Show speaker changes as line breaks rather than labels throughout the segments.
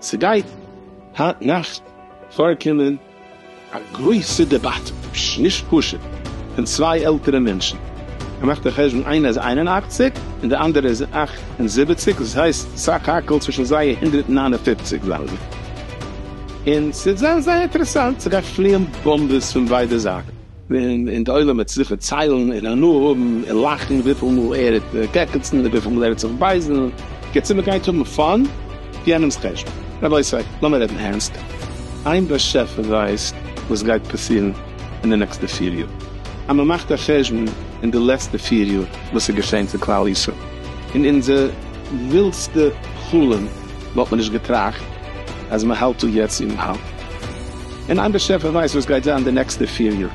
ס'גייט היינט נאכט פארקומען א גרויסע דעבאטע, נישט פשוט, פון צוויי עלטערע מענטשן, כ'מאך די חשבון איינער איז איין און אַכציק און די אנדערע איז אַכט און זיבעציק, דאס הייסט סך הכל צווישן זיי הונדערט נײַן און פֿופֿציק זענען זיי. און ס'וועט זיין זייער אינטערעסאנט, ס'גייט פליען באמבעס פון ביידע זייטן, און די עולם וועט זיך זיכער ציילן און הנאה האבן און לאכן וויפיל מאל ער וועט קעקעצן און וויפיל מאל ער וועט זיך בייזן, בקיצור מ'גייט האבן פאן אויף יענעמ'ס חשבון. רבותי, לאמיר רעדן ערנסט, איין באשעפער ווייסט וואס גייט פאסירן אין די נעקסטע פיר יאר, אז מ'מאכט א חשבון אין די לעצטע פיר יאר וואס איז געשען צו כלל ישראל, אין אונזער ווילדסטע חלום, וואלט מען נישט געטראכט אז מען האלט דא יעצט אין האלד, און איין באשעפער ווייסט וואס גייט זיין די נעקסטע פיר יאר,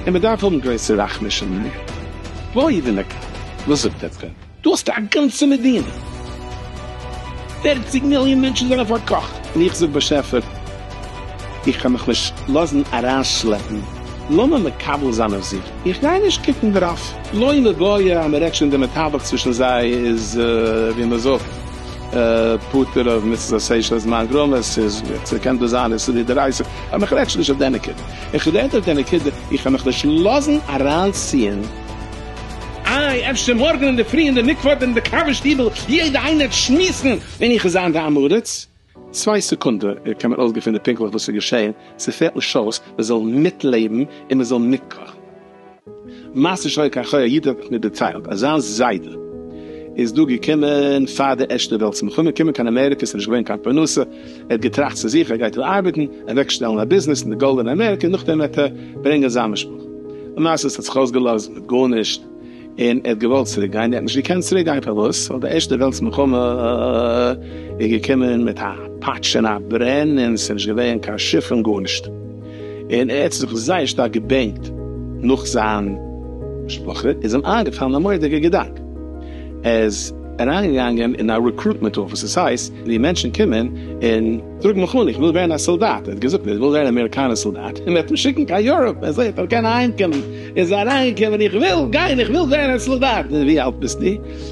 און מען דארף האבן גרויסע רחמי שמים, וואוי ווי מען קען, וואס זאגט עטץ דען? דא האסטו א גאנצע מדינה, פערציג מיליאן מענטשן זענען פארקאכט, און איך זאג באשעפער, איך קען מיך נישט לאזן אריינשלעפן, לאמיר מקבל זיין אויף זיך, איך גיי נישט קוקן דערויף, לא עלה גויה, אז מ'רעדט שוין די מתווך צווישן זיי איז ווי מ'זאגט פטור אויף מצות עשה שלא זמן גרמא, ס'איז ס'קען דאס זיין איסור מדאורייתא, אבער איך רעד שוין נישט אויף די נקודה, איך רעד אויף די נקודה, איך קען מיך נישט לאזן אריינציען, איי אפשר מארגן אינדערפרי אין די מקוואות אין די קאווע שטיבל יעדע איינער שמועסן און איך זיין די עם הארץ. צוויי סעקונדע קען מען אויסגעפינען פונקטליך וואס איז געשעהן, ס'פעלט נישט אויס מען זאל מיטלעבן און מען זאל מיטקאכן. מעשה שהיה כך היה, א איד האט מיר דערציילט אז זיין זיידע איז דא געקומען פאר די ערשטע וועלטס מלחמה, קומען קיין אמעריקע ס'נישט געווען קיין פרנסה, ער האט געטראכט צו זיך ער גייט דא ארבעטן, אוועק שטעלן א ביזנעס אין די גאלדענע אמעריקע, נאכדעם וועט ער ברענגען זיין משפחה, למעשה ס'האט זיך אויסגעלאזט מיט גארנישט. און ער האט געוואלט צוריק גיין, ער האט נישט געקענט צוריק גיין, פארוואס? ווייל די ערשטע וועלטס מלחמה איז געקומען מיט א פאטש און א ברען, און עס איז נישט געווען קיין שיף און גארנישט, און ער האט זיך זייער שטארק געבענקט נאך זיין משפחה, איז אים איינגעפאלן א מורא'דיגע געדאנק, ער איז אריינגעגאנגען אין א רעקרוטמענט אפיס, דאס הייסט ווי מענטשן קומען און זאגן איך וויל ווערן א סאלדאט, ער האט געזאגט ער וויל ווערן א אמעריקאנער סאלדאט, און מען וועט אים שיקן קיין יוראפ, אזוי וועט ער קענען אהיימקומען. איז אריינגעקומען, איך וויל גיין, איך וויל ווערן א סאלדאט. ווי אלט ביסטו?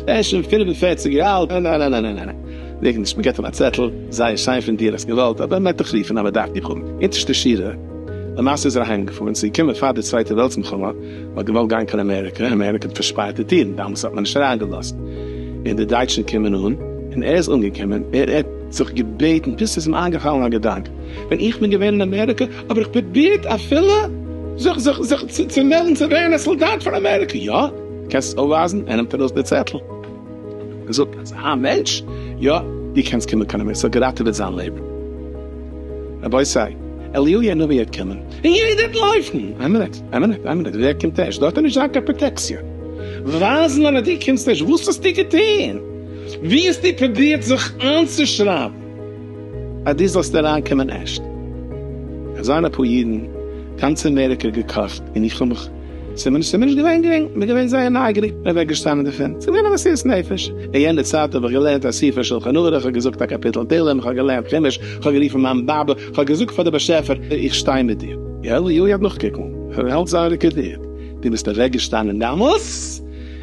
ער איז שוין פֿינף און פֿערציק יאר אלט. ניין ניין ניין ניין זאג נישט, מען געט אים א צעטל, זייער שיין פון דיר, האסט געוואלט, אבער מען וועט דיך רופן אז מען דארף דיך האבן. אונטערשטע שורה, למעשה איז ער אהיים געפארן, ס'איז געקומען פאר די צווייטע וועלטס מלחמה, מען האט געוואלט גיין קיין אמעריקא, אמעריקא האט פארשפארט די טירן, דאמאלס האט מען נישט אריינגעלאזט, און די דייטשן קומען אן, און ער איז אנגעקומען, ער האט זיך געבעטן, פלוצלינג איז אים איינגעפאלן א געדאנק, ווען איך בין געווען אין אמעריקא אבער איך פרובירט אפילו זיך זיך זיך צו מעלדן צו ווערן א סאלדאט פאר אמעריקע, יא? קענסט עס אויפווייזן? ער נעמט ארויס די צעטל און זאגט אז א מענטש, יא, דו קענסט קומען קיין אמעריקע, ס'האט געראטעוועט זיין לעבן. רבותי, אליהו הנביא וועט קומען און יעדער וועט לויפן! איין מינוט, איין מינוט, איין מינוט, ווער קומט ערשט? דארט וועט נישט זיין קיין פראטעקציע. ווייזן אז דו קומסט ערשט, וואס האסטו געטון? וואו האסטו פרובירט זיך איינצושרייבן? אז דו זאלסט אריינקומען ערשט. עס זענען אפאר אידן גאנץ אמעריקא געקאכט און איך האב מיך, עס איז מיר נישט געווען גרינג, איך בין געווען זייער נייגעריג, איך בין אוועקגעשטאנען דערפון, עס איז געווען א מסירות נפש, אין יענע צייט האב איך געלערנט א ספר שלחן ערוך, איך האב געזאגט א קאפיטל תהלים, איך האב געלערנט חומש, איך האב גערופן מיין באבע, איך האב געזאגט פאר דער באשעפער, איך שטיי מיט דיר. יואלי יאיר האט נאכגעקוקט, איך וועל זיין רעקארדירט, דו ביסט אוועקגעשטאנען דאמאלס?